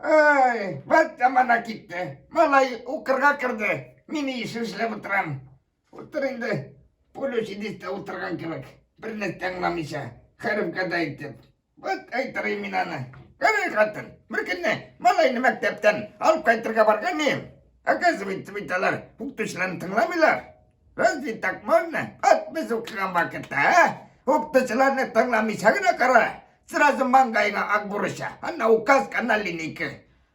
Ай, вот там она китте. Малай укырга кирде. Мин еш эшләп утырам. Утыр инде. Пулю сидит та утырган кебек. Берне тыңламыйча. Хәрефкә дә әйтеп. Вот әйтерим мин аны. Кәрәй хатын, бер көнне малайны мәктәптән алып кайтырга барган идем. Оказывается, бит алар укытучыларны тыңламыйлар. Разве так можно? От без укыган вакытта, а? Укытучыларны тыңламыйча гына кара. Сразу маңгаеңа ак бурыча, анна указка, анна линейка.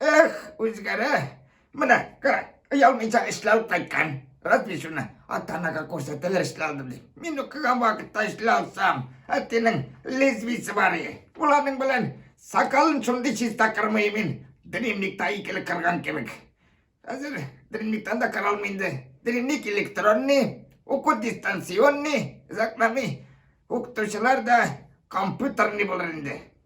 Эх, үзгәрә. Менә, кара, оялмыйча эшләп алып кайткан. Разве шуны ата-анага күрсәтәләр эшли алдым дип. Мин укыган вакытта эшли алсам, әтинең лезвисе бар иде. Ул аның белән сакалын шундый чиста кырмый мин, дневникта икеле кырган кебек. Хәзер дневниктан да кыра алмый инде. Дневник электронный, уку дистанционный, озакламый укытучылар да компьютерный булыр инде.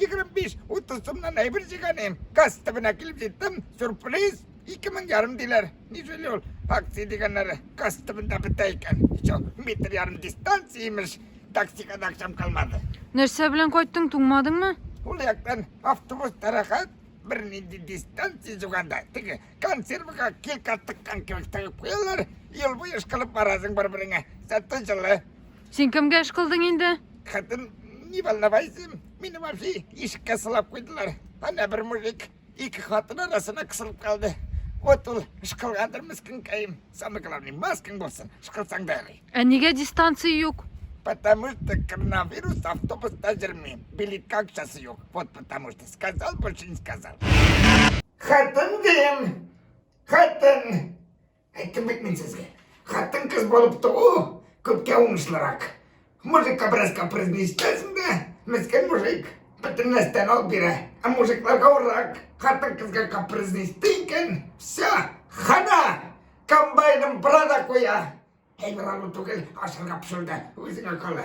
25-30 сумнан әйбер җыйганым. Газ төбенә килеп җиттем. Сюрприз! 2000 ярым диләр. Ни сөйли ул? Акция дигәннәре газ төбендә бетә икән. Ичо, метр ярым дистанция имеш. Таксига да акчам калмады. Нәрсә белән кайттың, туңмадыңмы? Ул яктан автобус тарахат бер нинди дистанция җуганда, теге консервага килка тыккан кебек тыгып куялар, ел буе ышкылып барасың бер-береңә. Зато җылы. Син кемгә эш кылдың инде? Хатын, не волновайся, мине вообще ишеккә сылап куйдылар. Ана бер мужик ике хатын арасына кысылып калды. Вот ул эш кылгандыр мескенкәем. Самый главный, маскаң булсын, эш кылсаң да ярый. Ә нигә дистанция юк? Потому что коронавирус автобуста йөрми. Билетка акчасы юк. Вот потому что сказал, больше не сказал. Хатын дим. Хатын. Әйттем бит мин сезгә. Хатын кыз булып туу күпкә уңышлырак. Мужикка бераз капризный итәсең дә, мескен мужик. Бөтен нәрсәне алып бирә. Ә мужикларга урак. Хатын кызга капризный итте икән, все, хана! Комбайнын бра да куя. Әйбер алу түгел, ашарга пешерү дә үзеңә кала.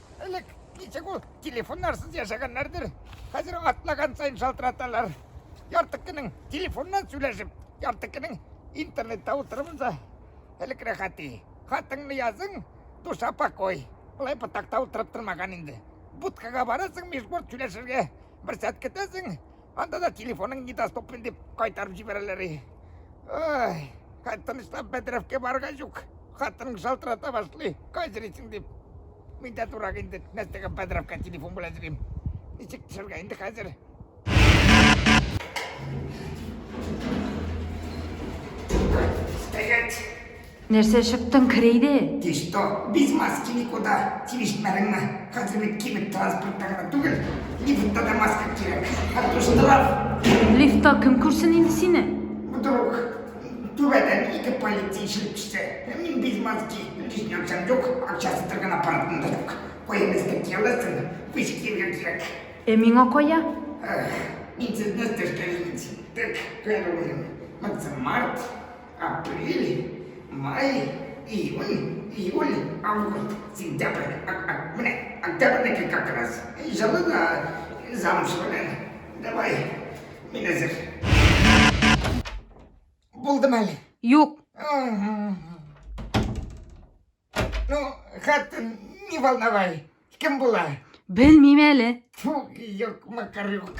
Элек ничек ул телефоннарсыз яшәгәннәрдер. Хәзер атлаган сайын шалтыраталар. Ярты көнең телефоннан сөйләшеп, ярты көнең интернетта утырып да элек рәхәти. Хатыңны язың, душа покой. Болай ботакта утырып тормаган инде. Будкага барасың, межборт сөйләшергә. Бер сәт көтәсең, Анда да телефоның недоступен дип кайтарып җибәрәләр. Ай, хатын штаб бәдрәфкә барга юк. Хатының шалтырата башлый. Кайзырыйсың дип. Мин дә турак инде. Нәрсәгә бәдрәфкә телефон белән йөрим. Ничек төшергә инде хәзер? Стоять! Нәрсә чыктың, керейде? Ты что, без маски никуда? Тилешмәдеңме? Хәзер бит кибет транспортта гына түгел, лифтта да маска кирәк. Хәтта штраф. Лифтта кем күрсен инде сине? Вдруг түбәдән ике полиция ишелеп төшсә, мин без маски, лишний акчам юк, акчасы торган аппаратым да юк. Куябыз да кияләсен, пусть киергә кирәк. Ә миңа кая? Мин сезне стажка җитсен. Так, первый, максим март, апрель, май, июнь, июль, август, сентябрь, менә октябрьдәки как раз. Җылы да, замуж белән. Давай, мин әзер. Булдым әле. Юк. Ну, хатын, не волновай. Кем була? Белмим әле. Фу, юк, макар юк.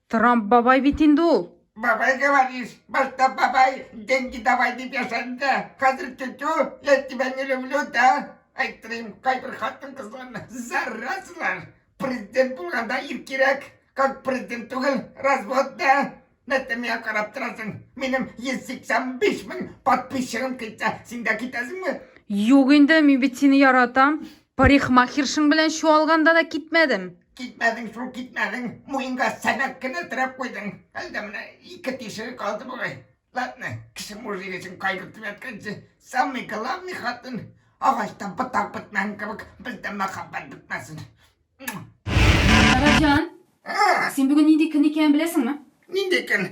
Трамп бабай бит инде ул. Бабай говоришь, башта бабай, деньги давай дип яшәнде. Хәзер тетю, я тебя не люблю, да? Әйттем, кайбер хатын кызларны зарразлар. Президент булганда ир кирәк, как президент түгел, развод да. Нәтемия карап торасың. Минем 185 мең подписчигым китә. Син дә китәсеңме? Юк инде, мин бит сине яратам. Парикмахершың белән чуалганда да китмәдем. Китмәдең шул, китмәдең. Муенга сәнәк кенә терәп куйдың. Әлдә менә ике тишеге калды бугай. Ладно, кеше мужик өчен кайгыртып ятканчы, самый главный хатын. Агачтан ботак бетмәгән кебек, бездә мәхәббәт бетмәсен. Раҗан, Син бүген нинди көн икәнен беләсеңме? Нинди көн?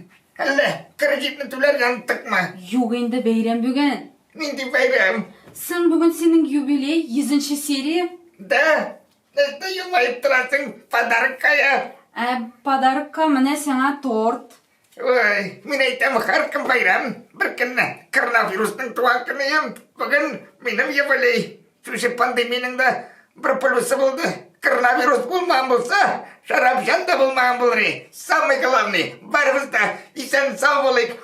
Әллә кредитны түләргә оныттыкмы? Юк инде, бәйрәм бүген. Нинди бәйрәм? Сын бүген синең юбилей, йөзенче серия. Да? Нәрсә елмаеп торасың? Подарок кая? Ә подарокка менә сиңа торт. Ой, мин әйтәм, һәркем бәйрәм. Бер көнне коронавирусның туган көне ем. Бүген минем юбилей. Шушы пандемиянең дә бер плюсы булды. Коронавирус булмаган булса, шәрабҗан да булмаган булыр. Самый главный, барыбыз да исән сау булыйк.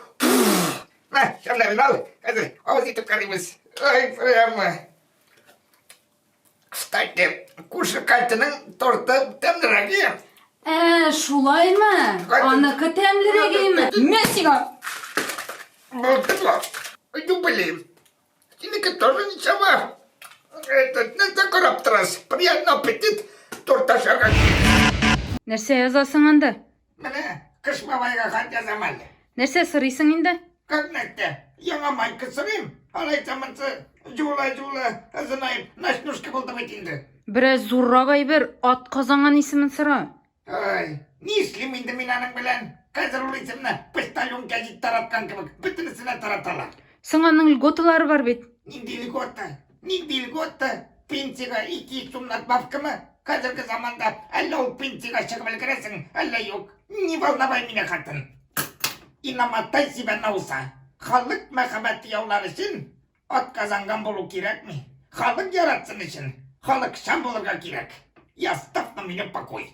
Мә, шәмнәрен ал. Хәзер авыз итеп карыйбыз. Ой, прямо. Кстати, күрше Катяның торты тәмлерәк ия. Ә, шулаймы? Катя- Аныкы тәмлерәк име? Мә сиңа! Булдыла. Иду белим. Синеке тоже ничего. Этот, нәрсә карап торасыз? Приятный аппетит, торт ашаган. Нәрсә язасың анда? Менә Кыш бабайга хат язам әле. Нәрсә сорыйсың инде? Күрнәктә. Яңа майка сорыйм. Алайса монсы җула-җула ызынаеп, ночнушка булды бит инде. Бераз зуррак әйбер, атказанган исемен сора. Ай, ни эшлим инде мин аның белән? Хәзер ул исемне почтальон гәзит тараткан кебек бөтенесенә тараталар. Соң аның льготалары бар бит. Нинди льгота? Ни льгота, пенсиягә 200 сум надбавкамы? Хәзерге заманда әллә ул пенсиягә чыгып өлгерәсең, әллә юк. Не волновай меня, хатын. Инаматай сибә науса. Халык мәхәббәте яулар өчен атказанган булу кирәкми. Халык яратсын өчен халыкчан булырга кирәк. И оставь на меня покой.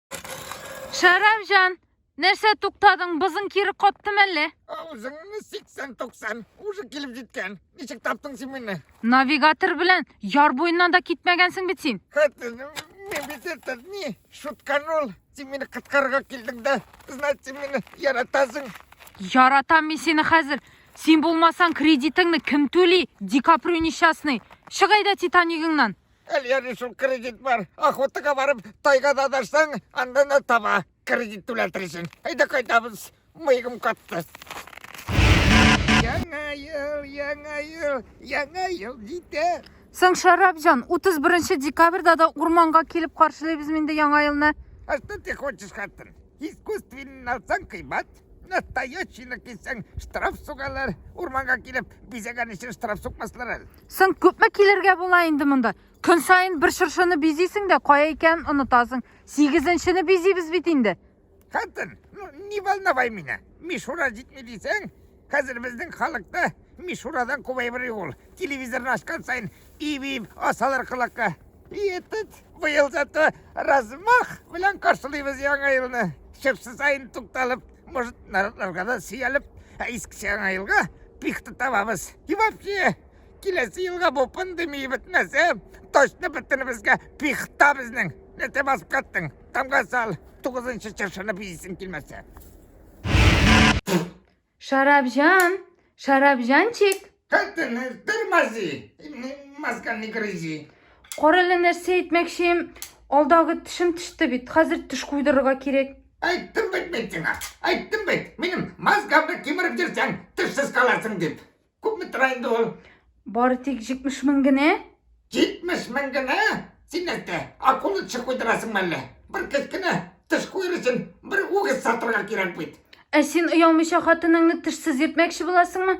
Шәрәфҗан, нәрсә туктадың? Бызың кире каттым әллә? Аузыңны 80-90. Уже килеп җиткән. Ничек таптың син мине? Навигатор белән яр буеннан да китмәгәнсең бит син. Мин бит это не шутканул. Син мине кыткарга килдең дә. Значит, син мине яратасың. Яратам мин сине хәзер. Син булмасаң кредитыңны кем түли? Ди Каприо несчастный. Чыгай да Титанигыңнан. Әлиәне шул кредит бар. Охотага барып, тайгада адашсаң, анда да таба. Кредит түләтерсең. Әйдә кайтабыз. Мыегым катты. Яңа ел, яңа ел, яңа ел җитә. Соң Шәрәп җан, 31 декабрьдә да урманга килеп каршылыйбыз инде яңа елны. А что ты хочешь, хатын? Искусственный алсаң кыйбат, настоящийны кисәң штраф сугалар. Урманга килеп бизәгән өчен штраф сукмаслар әле. Соң күпме килергә була инде монда? Көн саен бер шыршыны бизисең дә, кая икәнен онытасың. Сигезенчене бизибез бит инде. Хатын, ну не волновай меня. Мишура җитми дисәң, хәзер безнең халыкта Мишурадан күбәйбер юл. Телевизорны ачкан саен ибип асалар колакка. И этот быел зато размах белән каршылыйбыз яңа елны. Шыршы саен тукталып, может нарыкларга да сөялеп ә иске жаңа елга пихта табабыз и вообще киләсе елга бу пандемия бетмәсә точно бөтенебезгә пихта безнең нәрсә басып каттың тамга сал тугызынчы чыршыны бизисең килмәсә Шарабжан, шарабжанчик. Тәтене тырмази, масканы грызи. Кара әле нәрсә әйтмәкчем. Алдагы тешем теште бит. Хәзер теш куйдырырга кирәк. Айттым бит мен сиңа. Айттым бит. Минем мозгамны кимереп йөрсәң, тешсез каласың дип. Күпме тора инде ул? Бары тик 70 мең генә. 70 мең генә? Син нәрсә, акула теше куйдырасың мәллә? Бер кечкенә теш куер өчен бер үгез сатырга кирәк бит. Ә син оялмыйча хатыныңны тешсез йөртмәкче буласыңмы?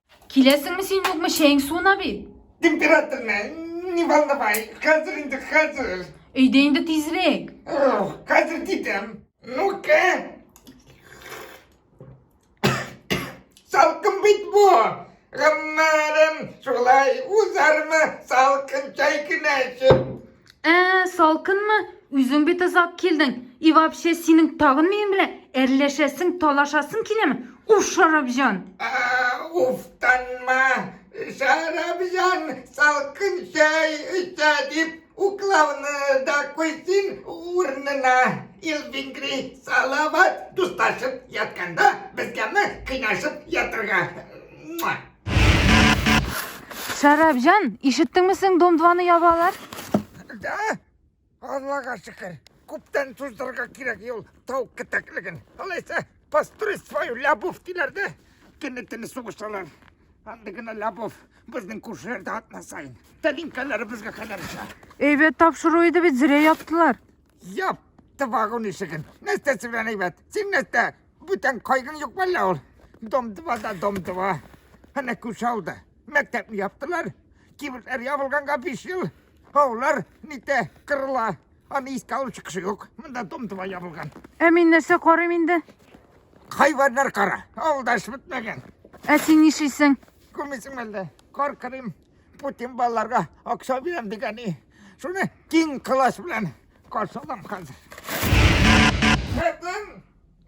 Киләсеңме син юкмы чәең суына бит. Температурны не волновай, хәзер инде хәзер. Өйдә инде тизрәк. Хәзер дидем. Ну-ка. Салкын бит бу. Гоммәрем шулай узармы салкын чәй генә эчеп. Ә, салкынмы? Үзең бит озак килдең. И вообще, синең тагын минем белән әрләшәсең, талашасың киләме? Уф, Шарабҗан! Уфтанма! Шарабҗан салкын чәй эчә дип уклауны да куйсын урынына. Илбингри салават дусташып ятканда безгәме кыйнашып ятырга? Шәрәпҗан, ишеттеңме син дом-2-ны ябалар? Да. Аллага шөкер. Күптән туздырырга кирәк юл тау китәклеген. Алайса, построй свою лябов диләр дә, кенетене сугышалар. Анда гына лябов безнең күршеләрдә атна сайын. Тәлинкәләре безгә кадәр җа. Әйбәт тапшыру иде бит, зря яптылар. Яп, тывагын ишеген. Нәрсә сүрән әйбәт? Син нәрсә? Бүтән кайгың юк әллә ул? Дом-дыва да дом-дыва. Әнә күш алды. Мәктәпне яптылар. Кибетләр ябылганга биш ел. Аулар нитә кырыла. Аны искә алу чыкышы юк. Монда дом-дыва ябылган. Ә мин нәрсә карыйм инде? Хайваннар кара. Авылда эш бетмәгән. Ә син нишлисең? Күрмисең әллә? Кар кырыйм. Путин балаларга акча бирәм дигәни. Шуны киң класс белән каршылам хәзер. Хәтен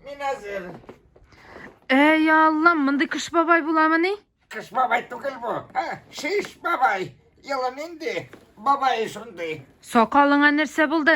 мин әзер. Әй Аллам, мондый кыш бабай буламыни? Кыш бабай түгел бу. Ә, шиш бабай. Елы нинди? Бабай шундый. Сакалыңа нәрсә булды?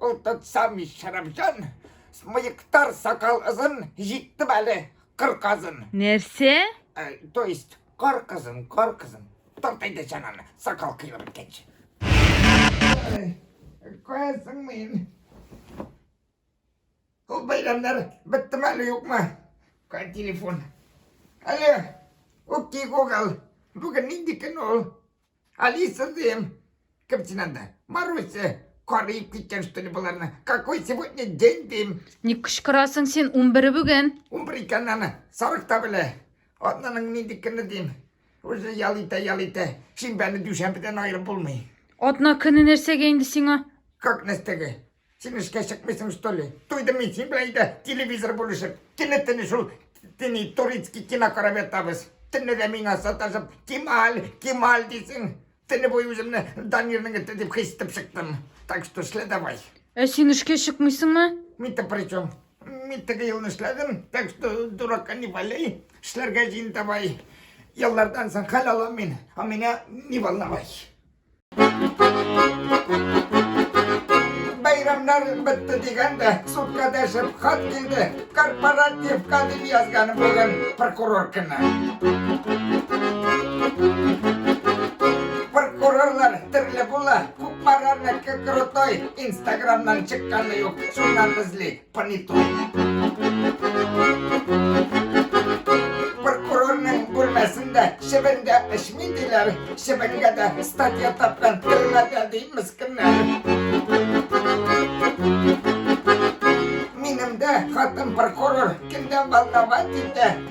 Ул тот сам шәрәфҗан, смыектар сакал ызын, җиттем әле кыр казын. Нәрсә? Э, то есть, кар кызын, кар кызын. Тарт әйдә чананы, сакал кыйылып беткәнче. Каясың мин? Ул бәйрәмнәр беттеме әле юкмы? Кай телефон? Әле, үпки Google, бүген нинди көн ул? Алиса Зим, кем син анда? Маруся, карыйып киткән что ли боларны? Какой сегодня день дим? Не кычкырасың син, унбер бүген. Унбер икәнен аны сарык та белә. Атнаның нинди көне дим? Уже ял итә, ял итә. Шимбәне дүшәмбедән аерып булмый. Атна көне нәрсәгә инде сиңа? Как нәрсәгә? Син эшкә чыкмыйсың, что ли? Туйдым мин син белән өйдә телевизор бүлешеп. Кине тени шул тени турецкий кино карап ятабыз. Төнне дә миңа саташып, Кемаль, Кемаль дисең. Төнне буе үземне Данирның эте дип хис итеп чыктым. Так что эшлә давай. Ә син эшкә чыкмыйсыңмы? Мин-то при чем? Мин теге елны эшләдем, так что дурака не валяй. Эшләргә җыен давай. Еллардан соң хәл алам мин, а меня не волновай. Бәйрәмнәр бетте дигәндә, судка дәшеп хат килде. Корпоративка дип язган бүген прокурор кенә. Прокурорлар төрле була. Күп марарныкы крутой. Инстаграмнан чыкканы юк. Шуннан эзли. Понятой. Прокурорның бүлмәсендә чебенгә эчми диләр. Чебенгә дә статья тапкан төрмәдә ди мескеннәр. Минем дә хатын прокурор көндә волновать итә.